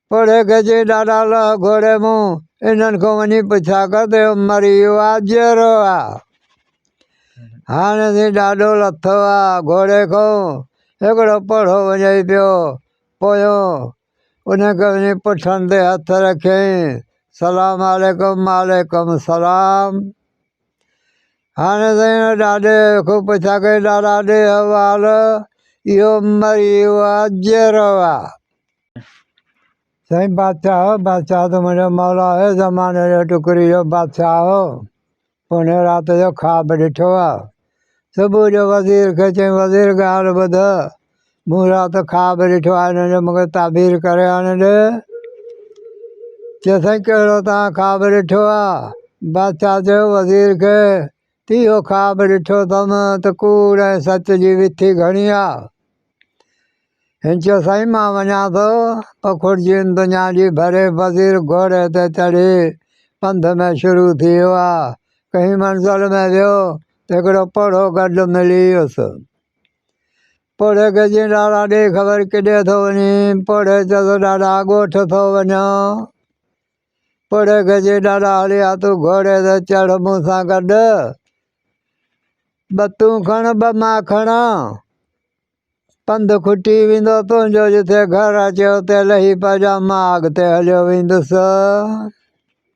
پڙهي گجي ڏاڍا لهه گهوڙي مون، انهن کان وڃي پڇا ڪر ته اهو مريو آ جيئرو آ. هاڻي سين ڏاڍو لٿو آ گهوڙي کان، هڪڙو پڙهو وڃئي پيو پويان، انهن کي وڃي پٺن تي هٿ رکيائين، سلام عليڪم، وعليڪم سلام. هاڻي سائين ڏاڏي کي پڇا ڪي ڏاڏا ڏي حوال اهو مري ويو آ جيئرو آ. سائين بادشاهه بادشاهه ته منهنجو مولا هي زماني جو ٽڪري جو بادشاهه هو پوني رات جو خواب ڏٺو آ صبح جو وزير کي چيم، وزير ڳالهه ٻڌ، مون رات خواب ڏٺو آهي، هن جو مونکي تعبير ڪري آڻي ڏي. چيسين، ڪهڙو توهان خواب ڏٺو آ؟ بادشاهه چيو وزير کي ته اهو خواب ڏٺو اٿم ته ڪوڙ ۽ سچ جي وٿي گهڻي آ. هن چيو سائين مان وڃان ٿو پکوڙجين دنيا جي ڀري وزير گهوڙي تي چڙهي پنڌ ۾ شروع ٿي ويو آ ڪنهن منزل ۾ ويو ته هڪڙو پوڙهو گڏ ملي ويس پوڙهي کي چيائين ڏاڏا ڏي خبر ڪيڏي ٿو وڃين پوڙهي چيس ڏاڏا ڳوٺ ٿو وڃان پڙهه گجي ڏاڏا هليا تون گهوڙي تي چڙهه مون سان گڏ ٻه تون کڻ ٻه مان کڻا پنڌ کٽي ويندو تنهنجو جتي گهر اچي اتي لهي پئجان مان اڳتي هليو ويندس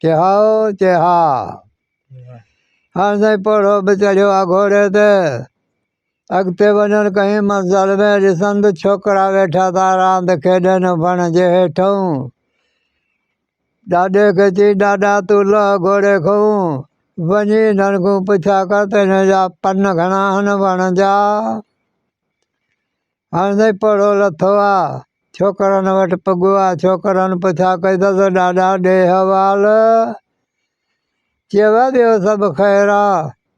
چي هائو چي ها هاڻ سائين پڙهو به چڙهيو آ گهوڙي تي اڳتي وڃڻ ڪئين منظر ۾ ڏسندس ڇوڪرا ويٺا ٿا راند کيڏن وڻ جي هيٺئون ڏاڏي کي چي ڏاڏا تون لهه گهوڙي کئون وڃي انهن کون پڇا ڪر ته انهن جا پن گهڻا آهن وڻ جا هاڻ سائين پڙهو لٿو آ. ڇوڪرن وٽ پڳو آ. ڇوڪرن پڇا ڪئي ته ڏاڏا ڏي حوال. چيو ٻيو سڀ خير آ.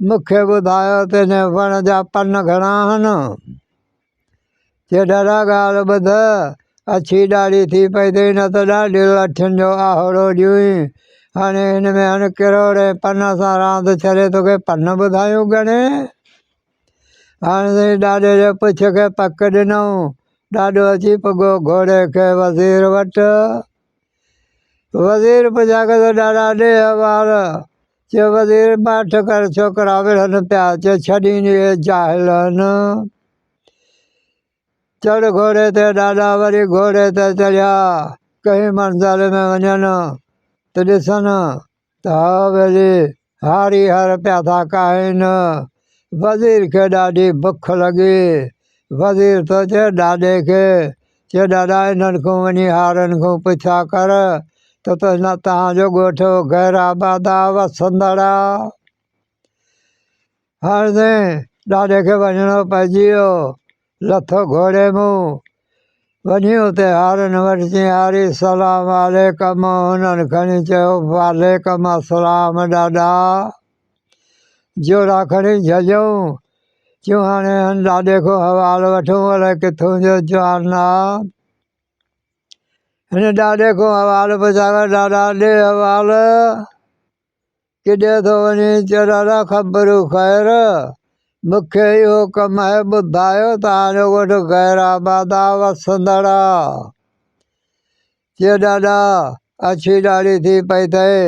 مون کي ٻڌايو ته هن وڻ جا پن گهڻا هن. چيو ڏاڏا ڳالهه ٻڌ. اڇي ڏاڙهي ٿي پئي ته هن ته ڏاڍي لٺين جو آهوڙو ڏيئين. هاڻي هن ۾ هن ڪروڙين پنن سان راند ڇڏي توکي پن ٻڌايون گهڻي. هاڻي سائين ڏاڏي جي پڇ کي پڪ ڏنائون. ڏاڏو اچي پڳو گهوڙي کي وزير وٽ. وزير پڇا ڪيس ته ڏاڏا ڏي احوال. چيو وزير ماٺ ڪر ڇوڪرا وڙهن پيا. چيو ڇڏين اهي جاهلن. چڙهه گهوڙي تي ڏاڏا وري گهوڙي تي چڙهيا ڪنهن منزل ۾ وڃن ته ڏسن ته حويلي هاري هر پيا ٿا ڪاهين. وزير کي ڏاڍي بک لڳي. وزير ٿو چئي ڏاڏي کي چئي ڏاڏا انهن کان وڃي هارين کان پڇا ڪر ته تنهنجو ڳوٺ غيرآباد آ وسندڙ آ. هڻندي ڏاڏي کي وڃڻو پئجي ويو. لٿو گهوڙي مون، وڃي اتي هارين وٽ چيائين، هاري سلام عليڪم. هنن کڻي چيو، وعليڪم السلام ڏاڏا. جوڙا کڻي جهڄئون. چيون، هاڻي هن ڏاڏي کان حوال وٺون، الائي ڪٿون جو جوان آ. هن ڏاڏي کان حوال پڇايو، ڏاڏا ڏي حوال. ڪيڏي ٿو وڃين چرالا خبر خير مون کي اهو ڪم آهي ٻڌايو توهان جو ڳوٺ غير آباد آ وسندڙ آ چي ڏاڏا اڇي ڏاڙهي ٿي پئي اٿئي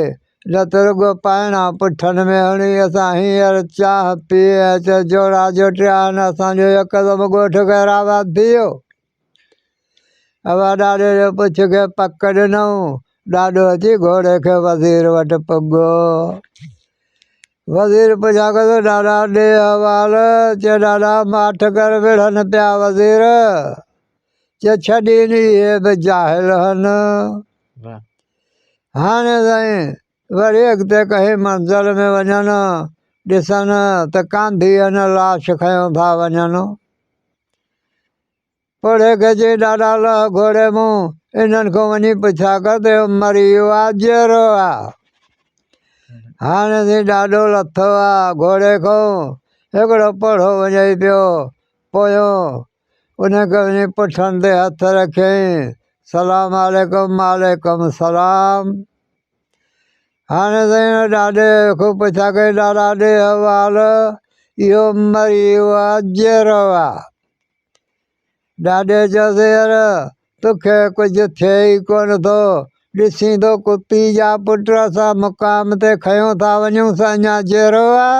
نه ته رڳو پائڻا پٺن ۾ هڻي اسان هينئر چانهه پيئي اچ جوڙا جوٽيا آهن اسان جو يڪدم ڳوٺ غير آباد ٿي ويو اوا ڏاڏي جو پڇ کي پڪ ڏنائون، ڏاڏو اچي گهوڙي کي وزير وٽ پڳو. وزير پڇيان ڪيس ڏاڏا ڏي احوال، چي ڏاڏا ماٺ ڪر وڙهن پيا وزير، چي ڇڏين اهي به جاهل هن. هاڻي سائين وري اڳتي ڪنهن منزل ۾ وڃن ڏسن ته ڪانڌيء نه لاش کنيو ٿا وڃن. پڙهه گجي ڏاڍا لهه گهوڙي مون، انهن کان وڃي پڇا ڪر ته اهو مريو آ جيئرو آ. هاڻي سين ڏاڍو لٿو آ گهوڙي کان، هڪڙو پڙهو وڃئي پيو پويان، انهن کي وڃي پٺن تي هٿ رکيائين، سلام عليڪم، وعليڪم سلام. هاڻي سائين ڏاڏي کي پڇا ڪي ڏاڏا ڏي حوال اهو مري ويو آ جيرو آ ڏاڏي چيس يار توکي ڪجهه ٿئي ئي ڪونه ٿو ڏسين ٿو ڪتي جا پٽ اسان مقام تي کنيو ٿا وڃون سو اڃا جيرو آ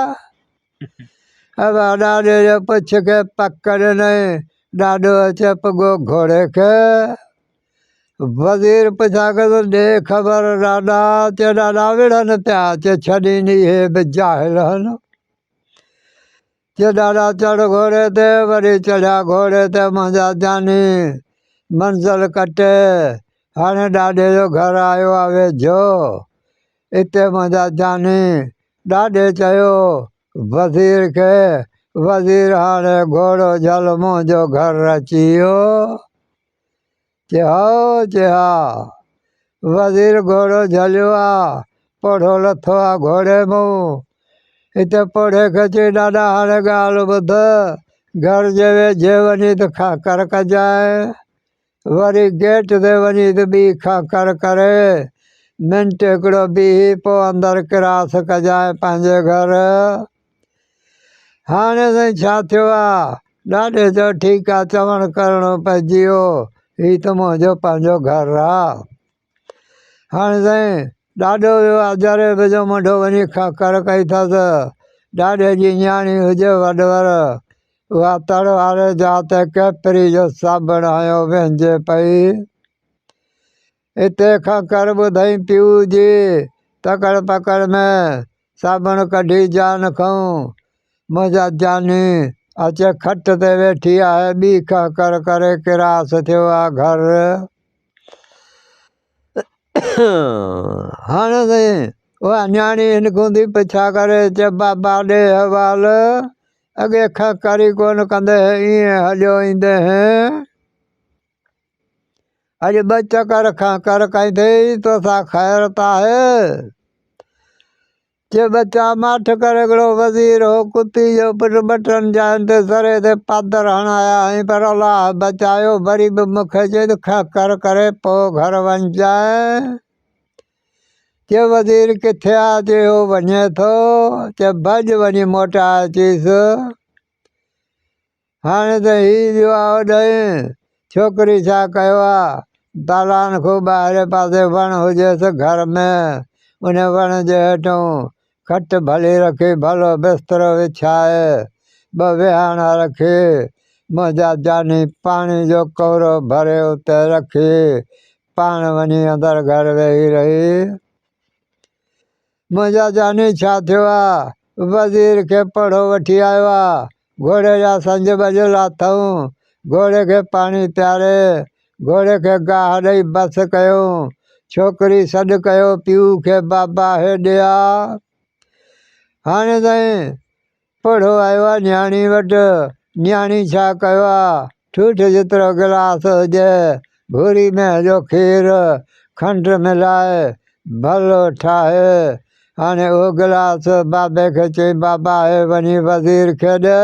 ڏاڏي جي پڇ کي پڪ ڏنائين ڏاڏو چيو پڳو گهوڙي کي وزير پڇاڪس ڏي خبر ڏاڏا، چي ڏاڏا وڙهن پيا، چي ڇڏين اهي به جاهل هن. چي ڏاڏا چڙهه گهوڙي تي، وري چڙهيا گهوڙي تي منهنجا جاني، منزل ڪٽي، هاڻي ڏاڏي جو گهر آيو آ ويجهو، اتي منهنجا جاني. ڏاڏي چيو وزير کي، وزير هاڻي گهوڙو جهل منهنجو گهر اچي ويو. چي ها چي ها، وزير گهوڙو جهليو آ، پوڙهو لٿو آ گهوڙي مون. هتي پوڙهي کي چيو ڏاڏا هاڻي ڳالهه ٻڌ، گهر جي ويجهي وڃي ته کانکر ڪجانء، وري گيٽ تي وڃي ته ٻي کانکر ڪري، منٽ هڪڙو بيهي پوء اندر ڪراس ڪجانء پنهنجي گهر. هاڻي سائين ڇا ٿيو آ؟ ڏاڏي چيو، ٺيڪ آ، چوڻ ڪرڻو پئجي ويو، هي ته منهنجو پنهنجو گهر آ. هاڻي سائين ڏاڏو ويو آ جري به جو منڍو وڃي ککر ڪئي ٿس. ڏاڏي جي نياڻي هجي وڏور، اها تڙ واري جاء تي ڪيپري جو صابڻ هنيو ويهجي پئي. اتي کنکر ٻڌئين پيء جي، تڪڙ پڪڙ ۾ صابڻ ڪڍي جان کنئون. منهنجا جاني، اچي کٽ تي ويٺي آهي، ٻي کنکر ڪري ڪراس ٿيو آ گهر. هاڻ سائين، اها نياڻي هنڪ هوندي به ڇا ڪري؟ چي بابا ڏي حوال، اڳي کنکر ئي ڪونه ڪندي هئين، ائين هليو ايندي هئين. اڄ ٻه چڪر کنڪر ڪندي توسان خيرت آهي چي ٻچا ماٺ ڪري هڪڙو وزير هو ڪتي جو پٽ ٻٽن جاين تي سري تي پادر هڻايا هئين پر الله بچايو وري به مون کي چيو ته کنڪر ڪري پو گهر وڃجانء چي وزير ڪٿي آ چي هو وڃي ٿو چي ڀڄ وڃي موٽائي اچيس هاڻي ته هي دعا اڏائين، ڇوڪري ڇا ڪيو آ؟ دالان کان ٻاهرئين پاسي وڻ هجيس گهر ۾، ان وڻ جي هيٺئون کٽ ڀلي رکي، ڀلو بسترو وڇائي، ٻه ويهاڻا رکي، منهنجا جاني پاڻي جو ڪورو ڀري اتي رکي، پاڻ وڃي اندر گهر ويهي رهي. منهنجا جاني ڇا ٿيو آ. وزير کي پڙهو وٺي آيو آ. گهوڙي جا سنج ٻڌل اٿئون. گهوڙي کي پاڻي پياري، گهوڙي کي گاهه ڏئي بس ڪيئون. ڇوڪري سڏ ڪيو پيء کي، بابا هي ڏي آ. هاڻي تائين پوڙهو آيو آ نياڻي وٽ، نياڻي ڇا ڪيو آ، ٺوٺ جيترو گلاس هجي، ڀوري مينهن جو کير، کنڊ ملائي، ڀلو ٺاهي، هاڻي اهو گلاس بابي کي چئي، بابا هي وڃي وزير کي ڏي.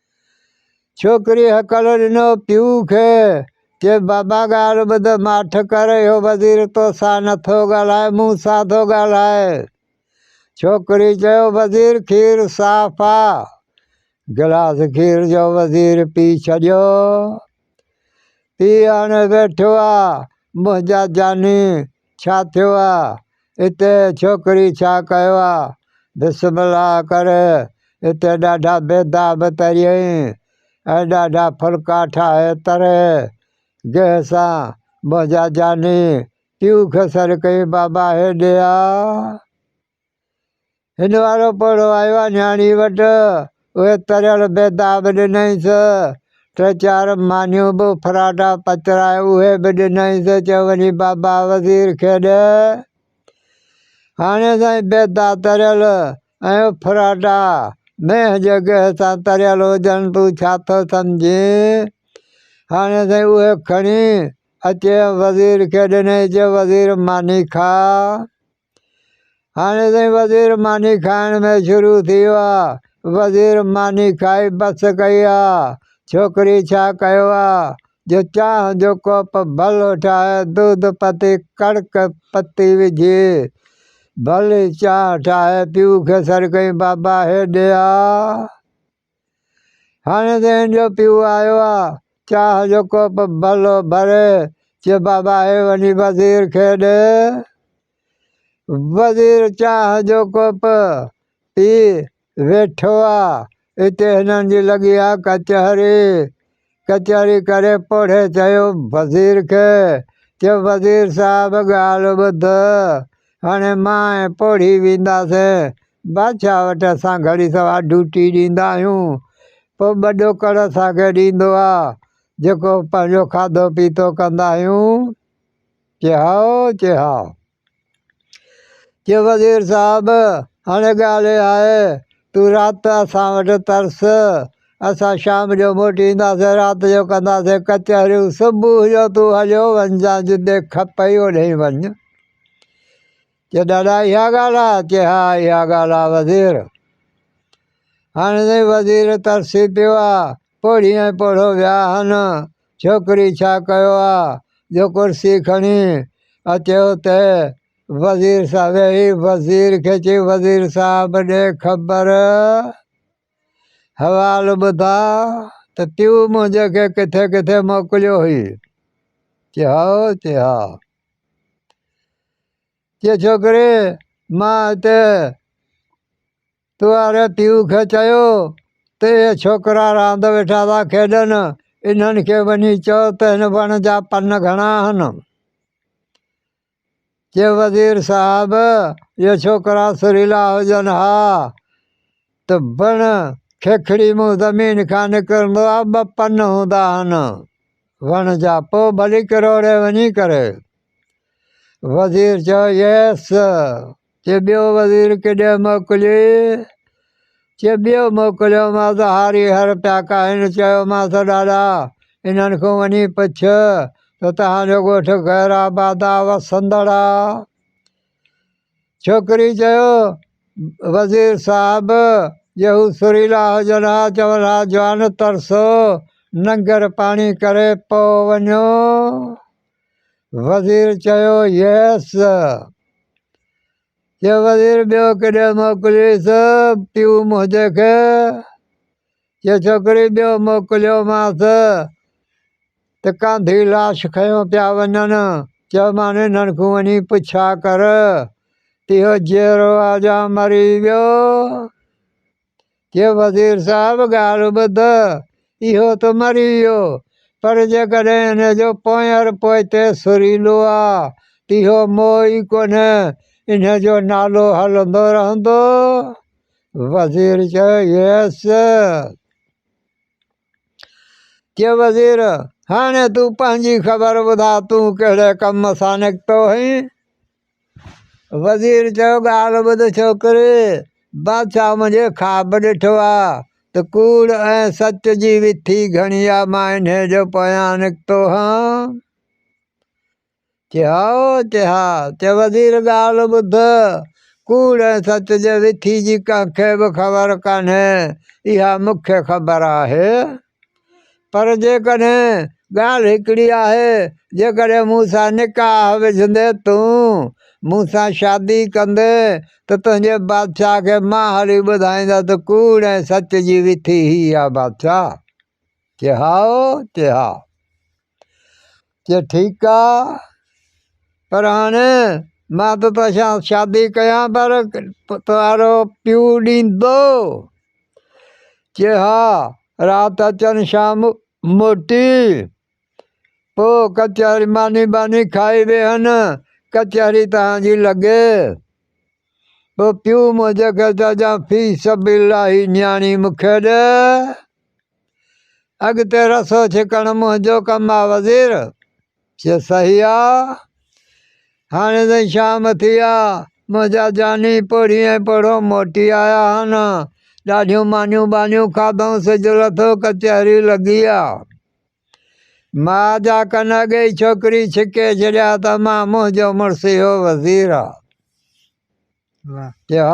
ڇوڪري هڪل ڏنو پيء کي، چي بابا ڳالهه ٻڌ ماٺ ڪر، اهو وزير توسان نه ٿو ڳالهائي، مون سان ٿو ڳالهائي. ڇوڪري چيو وزير کير صاف آ. گلاس کير جو وزير پي ڇڏيو. پيء هاڻي ويٺو آ، منهنجا جاني ڇا ٿيو آ اتي ڇوڪري ڇا ڪيو آ بسم الله ڪر اتي ڏاڍا بيداب تريئين ۽ ڏاڍا ڦلڪا ٺاهي تري گيهه سان منهنجا جاني پيو کي سڏ ڪيائين بابا هيڏي آ هن وارو پوڙهو آيو آ نياڻي وٽ، اهي تريل بيدا به ڏنائينس، ٽي چار مانيون به فراٽا پچرائي اهي به ڏنائينس، چيو وڃي بابا وزير کي ڏي. هاڻي سائين بيدا تريل ۽ فراٽا مينهن جي گيهه سان تريل هجن، تون ڇا ٿو سمجهين؟ هاڻي سائين اهي کڻي اچي ۽ وزير کي ڏنائين، چيو وزير ماني کاء. هاڻي سائين وزير ماني کائڻ ۾ شروع ٿي ويو آ وزير ماني کائي بس ڪئي آ ڇوڪري ڇا ڪيو آ جو چانهه جو ڪوپ ڀلو ٺاهي دود پتي ڪڙڪ پتي وجهي ڀلي چانهه ٺاهي پيو کي سڏ ڪيائين بابا هيڏي آ هاڻي ذهن جو پيو آيو آ، چاهه جو ڪوپ ڀلو ڀري چي بابا هي وڃي وزير کي ڏي. وزير چاهه جو ڪوپ پي ويٺو آ، اتي هنن جي لڳي آ ڪچهري. ڪچهري ڪري پوڙهي چيو وزير کي، چيو وزير صاحب ڳالهه ٻڌ، هاڻي مان ۽ پوڙهي وينداسين بادشاهه وٽ، اسان گهڙي سوار ڊيوٽي ڏيندا آهيون، پوء ٻه ڏوڪڙ اسان کي ڏيندو آ، جيڪو پنهنجو کاڌو پيتو ڪندا آهيون. چي هائو، چي هائو. چيو وزير صاحب هاڻي ڳالهه اها آهي تون رات اسان وٽ ترس اسان شام جو موٽي اينداسين رات جو ڪنداسين ڪچهريون صبح جو تون هليو وڃجان جتي کپئي اوڏهين وڃ چي ڏاڏا اها ڳالهه آهي چي ها اها ڳالهه آهي وزير هاڻي وزير ترسي پيو آ پوڙهي ۽ پوڙهو وياهن، ڇوڪري ڇا ڪيو آ جو ڪرسي کڻي اچي اتي وزير صاحب ويهي وزير کي چي وزير صاحب ڏي خبر حوال ٻڌاء ته تيون منهنجي کي ڪٿي ڪٿي موڪليو هئي؟ چي هائو چي ها چي ڇوڪري مان هتي پياري پيء کي چيو ته اهي ڇوڪرا راند ويٺا ٿا کيڏن، انهن کي وڃي چئو ته هن وڻ جا پن گهڻا آهن. چي وزير صاحب اهي ڇوڪرا سريلا هجن ها ته بڻ کيکڙي مون زمين کان نڪرندو آ ٻه پن هوندا آهن وڻ جا پو ڀلي ڪروڙي وڃي ڪري. وزير چيو يس چي ٻيو وزير ڪيڏانهن موڪليئي؟ چي ٻيو موڪليومانس هاري هر پيا ڪاهن. چيومانس ڏاڏا! انهن کان وڃي پڇ ته توهان جو ڳوٺ غير آباد آ وسندڙ آ؟ ڇوڪري چيو وزير صاحب! جي هو سريلا هجن ها چون ها جوان ترسو ننگر پاڻي ڪري پوء وڃو. وزير چيو يس چيو وزير ٻيو ڪيڏانهن موڪليس پيو منهنجي کي چيو ڇوڪري ٻيو موڪليومانس ته ڪانڌي لاش کنيو پيا وڃن چيو مان انهن کان وڃي پڇا ڪر ته اهو جيئرو آ يا مري ويو جي وزير صاحب ڳالهه ٻڌ، اهو ته مري ويو، پر جيڪڏهن ان جو پونئر پوئتي سريلو آ، ته اهو موئي ئي ڪونه، ان جو نالو هلندو رهندو. وزير چيو، يس. جي وزير، هاڻي تون پنهنجي خبر ٻڌاء، تون ڪهڙي ڪم سان نڪتو هئين؟ وزير چيو ڳالهه ٻڌ ڇوڪري! بادشاهه منهنجي خواب ڏٺو آ ته ڪوڙ ۽ سچ جي وٿي گهڻي آ مان انهي جو پويان نڪتو هان. چي ها چي ها. چي وزير ڳالهه ٻڌ ڪوڙ ۽ سچ جي وٿي جي ڪنهن کي به خبر ڪانهي اها مون کي خبر آهي. پر جيڪڏهن ڳالهه هڪڙي آهي، جيڪڏهن مون سان نڪاح وجهندي تون مون سان شادي ڪندين ته تنهنجي بادشاهه کي مان هلي ٻڌائيندس ته ڪوڙ ۽ سچ جي وٿي هي آ بادشاهه چي هائو چي ها. چي ٺيڪ آ پر هاڻي مان ته تو سان شادي ڪيان پر تهنجو پيو ڏيندو؟ چي ها رات اچن شام موٽي پو ڪچهري ماني ٻاني کائي ويهن ڪچهري تهنجي لڳي پو پيو منهنجي کي چئجان في سبيل الله هي نياڻي مون کي ڏي. اڳتي رسو ڇڪڻ منهنجو ڪم آ وزير. چي صحيح آ. هاڻي تائين شام ٿي آ. منهنجا جاني پوڙهي ۽ پوڙهو موٽي آيا هن. ڏاڍيون مانيون ٻانيون کاڌئون سج لٿو ڪچهري لڳي آ. ماء جا ڪن اڳي ئي ڇوڪري ڇڪي ڇڏيا ته مان منهنجو مڙس اهو وزير آ. چيو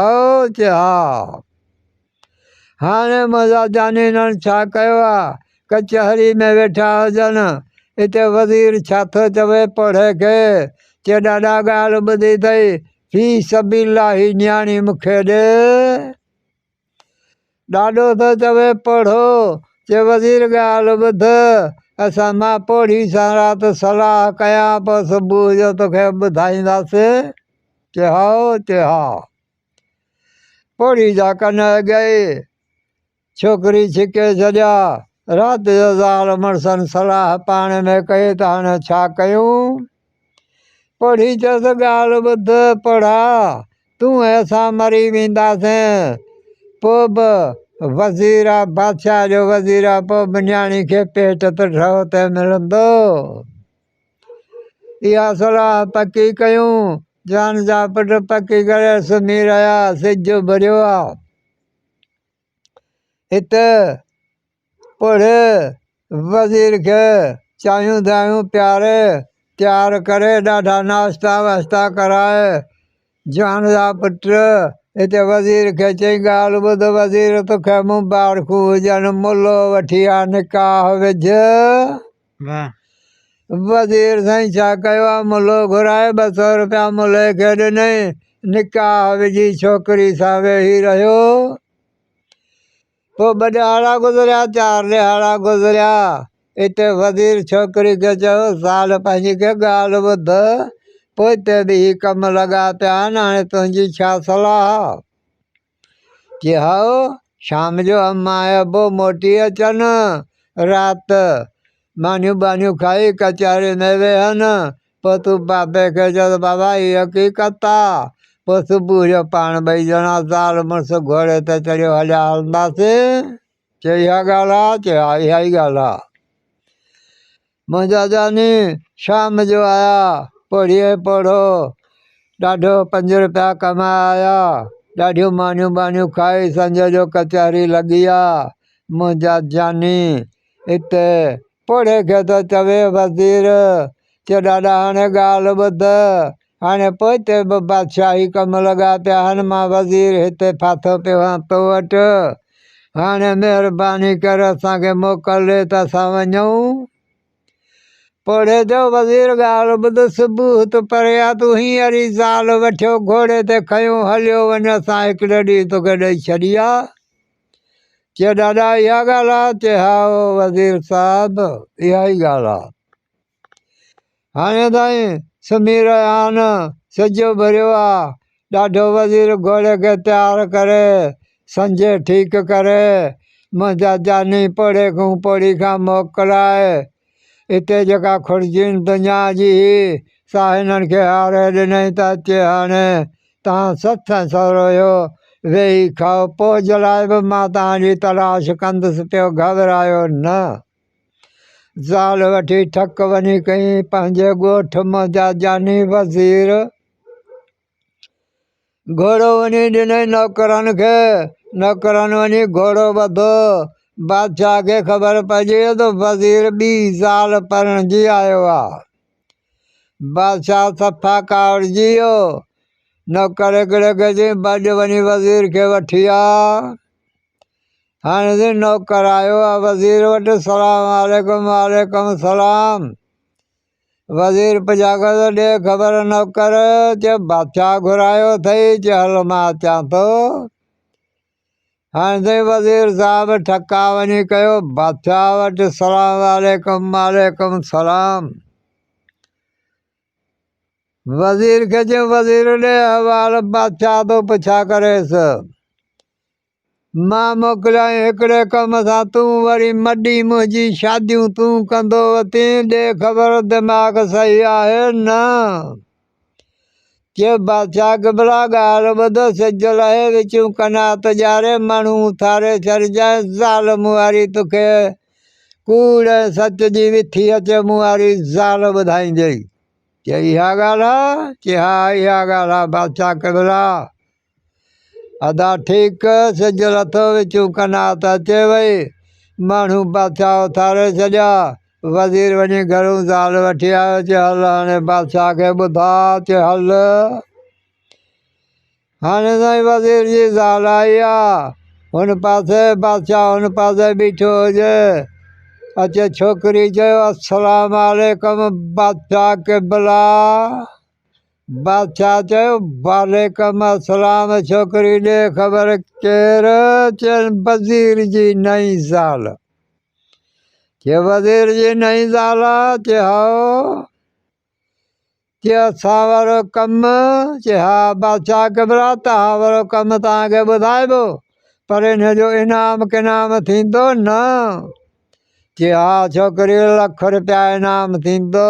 تھ ھا! ھاڻي مزا جانينڻ ڇا ڪيو آ؟ ڪچهري ۾ ويٺا ھجن، اتي وزير ڇا ٿو چوي پڙهي کي. چي ڏاڏا ڳالهه ٻڌي اٿئي، في سبيل الله ھي نياڻي مون کي ڏي. ڏاڏو ٿو چوي پوڙهو، چي وزير ڳالهه ٻڌ، اسان مان پوڙهي سان رات صلاح ڪيان، پوء صبح جو توکي ٻڌائينداسين. چي هائو، چي ها. پوڙهي جا ڪن اڳيئي ڇوڪري ڇڪي ڇڏيا. رات جو زال مڙسن صلاح پاڻ ۾ ڪئي ته هاڻي ڇا ڪيون؟ پڙهي چس ڳالهه ٻڌ پڙها، تون ۽ اسان مري وينداسين. پوء به وزير آ بادشاهه جو وزير آ، پوء به نياڻي کي پيٽ ته ڍؤ تي ملندو. اها صلاح پڪي ڪيون. جان جا پٽ پڪي ڪري سمهي رهيا. سج اڀريو آ. هت پڙهه وزير کي چايون دايون پياري، تيار ڪري ڏاڍا ناشتا واشتا ڪرائي. جان جا پٽ هت وزير کي چيائين، ڳالهه ٻڌ وزير توکي مبارڪون هجن، ملو وٺي آ نڪاح وجهه. واه وزير سائين ڇا ڪيو آ ملهو گهرائي ٻه سو روپيا ملهي کي ڏنئين نڪاح وجهي ڇوڪري سان ويهي رهيو پوء ٻه ڏهاڙا گذريا چار ڏهاڙا گذريا اتي وزير ڇوڪري کي چيو زال پنهنجي کي ڳالهه ٻڌ پوء تي به هي ڪم لڳا پيا آهن هاڻي تنهنجي ڇا صلاح آ. چيائو، شام جو اما ۽ ابو موٽي اچن. رات مانيون ٻانيون کائي ڪچهري ۾ ويهن. پوء تون بابي کي چئس بابا هي حقيقت آ. پوء صبح جو پاڻ ٻئي ڄڻا زال مڙس گهوڙي تي چڙهيو هليا هلنداسين. چيو اها ڳالهه آ؟ چيو ها اها ئي ڳالهه آ. منهنجا جاني شام جو آيا، پوڙهيء پوڙهو ڏاڍو پنج روپيا ڪمايا، ڏاڍيون مانيون ٻانيون کائي سنجهه جو ڪچهري لڳي آ، منهنجا جاني اتي پوڙهي کي ٿو چوي وزير، چي ڏاڏا هاڻي ڳالهه ٻڌ، هاڻي پوئتي به بادشاهي ڪم لڳا پيا هن مان وزير هتي ڦاٿو پيو هان تو وٽ هاڻي مهرباني ڪر اسان کي موڪل ڏي ته اسان وڃون پوڙهي جو وزير ڳالهه ٻڌ صبح هت پريا تون هينئر ئي زال وٺيو گهوڙي تي کنيو هليو وڃ اسان هڪڙي ڏينهن توکي ڏئي ڇڏي آ چي ڏاڏا اها ڳالهه آ چي هائو وزير صاحب اها ئي ڳالهه آ هاڻي تائين سمهي رهيا آهن، سڄو ڀريو آ، ڏاڍو وزير گهوڙي کي تيار ڪري، سنجهي ٺيڪ ڪري، منهنجا جاني پوڙهي کان پوڙهي کان موڪلائي، اتي جيڪا خورجين دنيا جي هئي، سا هنن کي هاري ڏنائين ته اچي هاڻي تان سٿ ۽ سورهيو ويهي کائو، پوڄ لاء به مان تان جي تلاش ڪندس پيو، گهٻرايو نه. زال وٺي ٽھڪ وڃي ڪئين پنھنجي ڳوٺ مان جا جاني وزير گھوڙو وڃي ڏنئي نوڪرن کي نوڪرن وڃي گھوڙو ٻڌو بادشاھ کي خبر پئجي وئي تھ وزير ٻي زال پرڻجي آيو آ بادشاھ صفا ڪاوڙجي ويو نوڪر ھڪڙي کي چئين ڀڄ وڃي وزير کي وٺي آ هاڻي جي نوڪر آيو آ وزير وٽ سلام عليڪم وعليڪم سلام وزير پڄاڳو ته ڏي خبر نوڪر چي بادشاهه گهرايو اٿئي چي هل مان اچان ٿو هاڻي تائين وزير صاحب ٺڪا وڃي ڪيو بادشاهه وٽ سلام عليڪم وعليڪم سلام وزير کي چيو وزير ڏي حوال بادشاهه ٿو پڇا ڪريس مان موڪليائين هڪڙي ڪم سان، تون وري مڏي منهنجي شاديون تون ڪندو وتين، ڏي خبر دماغ صحيح آهي نه؟ چيو بادشاهه قبلا ڳالهه ٻڌ، سج لهي وچون قنات ڄاڙي، مڻهو اٿاري ڇڏجانء، زال مون واري توکي ڪوڙ ۽ سچ جي وٿي اچي مون واري زال ٻڌائيندينء. چيو اها ڳالهه آهي؟ چيو ها اها ڳالهه آهي بادشاهه قبلا. ادا ٺيڪ سجل اٿو وچون ڪنار ته اچي وئي ماڻهو بادشاهه اٿاري ڇڏيا وزير وڃي گهرون زال وٺي آيو چي هل هاڻي بادشاهه کي ٻڌا چي هل هاڻي سائين وزير جي زال آئي آ هن پاسي بادشاهه هن پاسي بيٺو هجي اچي ڇوڪري چيو السلام عليڪم بادشاهه قبلا بادشاهه چيو، وعليڪم السلام ڇوڪري ڏي خبر ڪير؟ چيائين وزير جي نئين زال. چيو وزير جي نئين زال آ؟ چي هائو. چي اسان وارو ڪم؟ چي ها بادشاهه قبلا توهان وارو ڪم توهان کي ٻڌائبو پر ان جو انعام ڪنعام ٿيندو نه؟ چي ها ڇوڪري لک روپيا انعام ٿيندو.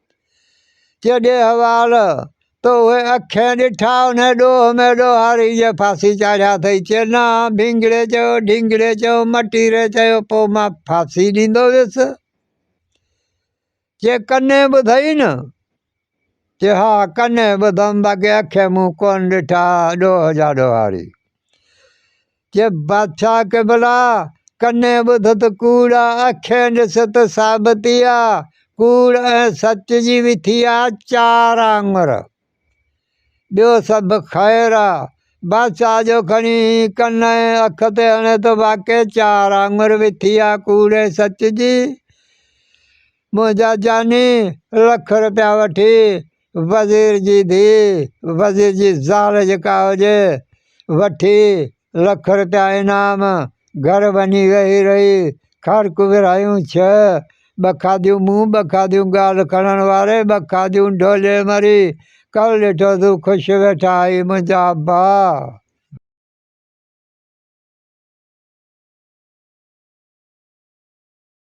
چيڏي حوال تو اهي اکين ڏٺا انهي ڏوهه ۾ ڏوهاري جي ڦاسي چاڙهيا اٿئي چينا ڀينگڙي چيو ڍينگڙي چيو مٽيري چيو پو مان ڦاسي ڏيندو ويس چي ڪني ٻڌئي نه چي ها ڪني ٻڌم باقي اکين مون ڪون ڏٺا ڏوهه جا ڏوهاري چي بادشاهه قبلا! ڪنين ٻڌ ته ڪوڙا اکين ڏس ته ثابتي آ، ڪوڙ ۽ سچ جي به ٿي آ چار آڱر. ٻيو سڀ خير آ. بادشاهه جو کڻي ڪن ۽ اک تي هڻي ته واقعي چار آڱر به ٿي آ ڪوڙ ۽ سچ جي. منهنجا جاني لک رپيا وٺي وزير جي ڌيء وزير جي زال جيڪا هجي وٺي لک روپيا انعام گهر وڃي ويهي رهي خرڪ ورهايون ڇهه ٻه کاڌيون مون ٻه کاڌيون ڳالهه کڻڻ واري ٻه کاڌيون ڍولي مري ڪل ڏٺو سو خوش ويٺا هي منهنجا ڀاء.